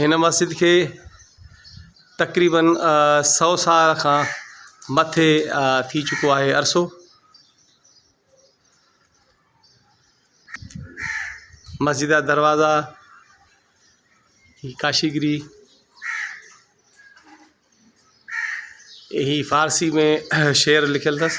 هن مسجد کي تقريباً سؤ سال کان مٿي ٿي چڪو آهي عرصو مسجد جا دروازا ڪاشي گري هي فارسي ۾ شعر لکيل اٿس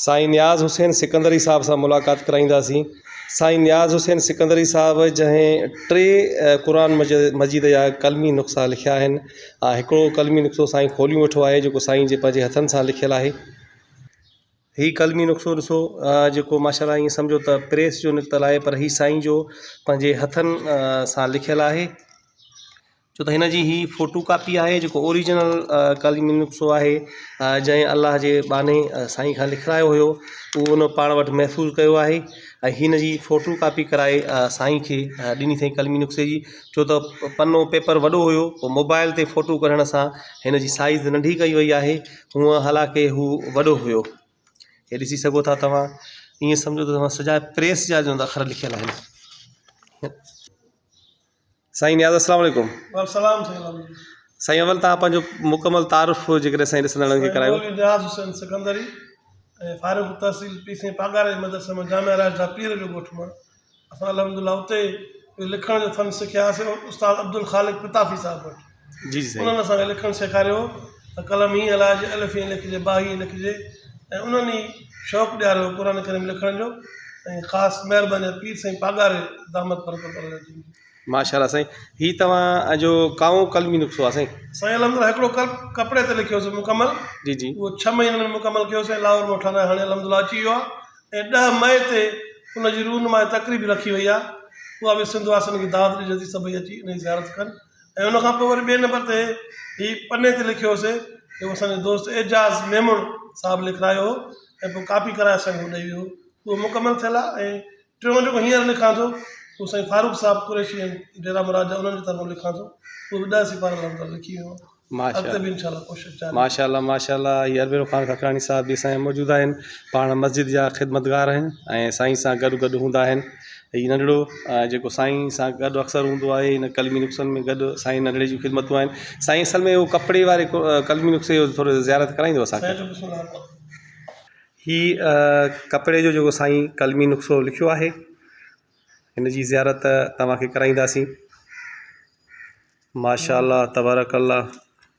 سائين نياز حسين سڪندري صاحب سان ملاقات ڪرائينداسين سائين نياز حسين سڪندري صاحب جنهن ٽي قرآن مجيد جا قلمي نقصا لکيا آهن ها هڪڙو قلمي نقصو سائين کوليون ويٺو آهي جيڪو سائين جي پنهنجي هٿن سان لکيل آهي هي قلمي نقصو ڏسو جيڪو ماشاء الله ائين سمجهو ته پريس جو نڪتل آهي پر هي سائين جو پنهنجي هٿن سان لکيل آهي ڇو ته هن جي هي فوٽو ڪاپي آهي جيڪو اوريجنل قلي ميل نقصو آهي جنهن الله جي ٻانهي سائين کان لکرايو هيو اهو ان پاڻ وٽ محفوظ ڪيو آهي ۽ هن جي فوٽو ڪاپي ڪرائي سائين کي ڏني اٿائين قلمي نقصي جي ڇو ته پنو پيپر وڏو هيو پوء موبائل تي فوٽو ڪڍڻ سان هن جي سائيز ننڍي ڪئي وئي آهي هونئن حالانڪه هو وڏو هيو هي ڏسي سگهو ٿا توهان ائين سمجهو ته توهان سجا پريس جا جون اکر لکيل آهن سائين نياز السلام عليڪم والسلام سائين الحمد لله سائين اول تان پنهنجو مڪمل تعارف جي ڪري سائين ڏسندڙن کي ڪرايو مولوي نياز حسين سڪندري ۽ فارغ التحصيل پي سين پاڳاري جي مدرسي مان جامع راشده پير جو ڳوٺ مان اسان الحمدلله اتي لکڻ جو فن سکياسين استاد عبدالخالق پتافي صاحب وٽ انهن اسان کي لکڻ سيکاريو هو ته قلم هيئن هلائجي، الف هيئن لکجي، باء هيئن لکجي ۽ انهن ئي شوق ڏياريو هو قرآن ڪريم لکڻ جو ۽ خاص مهرباني پير سائين پاڳاري دامت برڪت الله جن جي. ماشاء الله سائين هي توهان جو ڪائون قلمي نسخو آهي سائين. سائين الحمدلله هڪڙو ڪلپ ڪپڙي تي لکيو هوسي مڪمل جي جي. اهو ڇهه مهينن ۾ مڪمل ڪيو سائين لاهور مان ٺهرائي هاڻي الحمدلله اچي ويو آهي ۽ ڏهه مئي تي ان جي روح نماء تقريب رکي وئي آهي اها به سنڌ واسين کي دعوت ڏجي ٿي سڀئي اچي ان جي زيارت ڪن ۽ ان کان پوء وري ٻئي نمبر تي هي پني تي لکيو هوسي جيڪو اسان جو دوست اعجاز ميمڻ صاحب لکرايو هو ۽ پوء ڪاپي ڪرائي اسان کي ڏئي ويو هو اهو مڪمل ٿيل آهي ۽ ٽيون جيڪو هينئر لکان ٿو اهو سائين فاروق صاحب قريشي ۽ ڊيرا مراد جا انهن جي طرفان لکان ٿو اهو به ڏهه سيپارن لاء مطلب لکي ويو آهيان ماشاء اڳتي به انشاء الله ڪوشش جاري ماشاء الله ماشاء الله هي عربيرو خان ککراڻي صاحب به سائين موجود آهن پاڻ مسجد جا خدمتگار آهن ۽ سائين سان گڏ گڏ هوندا آهن هي ننڍڙو جيڪو سائين سان گڏ اڪثر هوندو آهي هن قلمي نسخن ۾ گڏ سائين ننڍڙي جون خدمتون آهن سائين اصل ۾ هو ڪپڙي واري قلمي نسخي جو ٿورو زيارت ڪرائيندو اسانکي هي ڪپڙي جو جيڪو سائين قلمي نسخو لکيو آهي هن جي زيارت توهانکي ڪرائينداسين ماشاء الله تبارڪ الله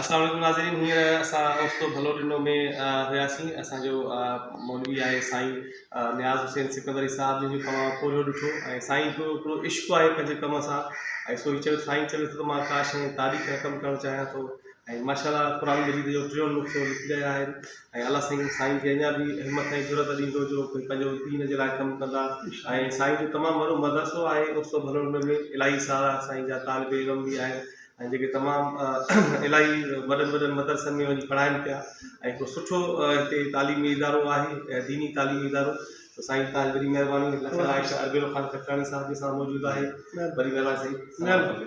السلام عليڪم ناظرين هينئر اسان اوستو ڀلو ٽنڊو ۾ هياسين اسان جو مولوي آهي سائين نياز حسين سڪندري صاحب جن جو تمام پورهيو ڏٺو ۽ سائين جو هڪڙو عشق آهي پنهنجي ڪم سان ۽ سو چيو سائين چوي ٿو ته مان ڪا شيء تاريخ رقم ڪرڻ چاهيان ٿو ۽ ماشاء الله قرآن مجيد جو ٽيون نقطو لکي رهيا آهن ۽ الله سائين سائين کي اڃا به همٿ ۽ جرئت ڏيندو جو ڪي پنهنجو دين جي لاء ڪم ڪندا ۽ سائين جو تمام وڏو مدرسو آهي اوستو ڀلوڙ ۾ به الاهي سارا سائين جا طالب علم به آهن ۽ جيڪي تمام الاهي وڏن وڏن مدرسن ۾ وڃي پڙهائن پيا ۽ هڪڙو سٺو هتي تعليمي ادارو آهي ديني تعليمي ادارو ته سائين تان وڏي مهرباني لکن عائشه اربيلو خان کٽڪاڻي صاحب جي سان موجود آهي وڏي مهرباني سائين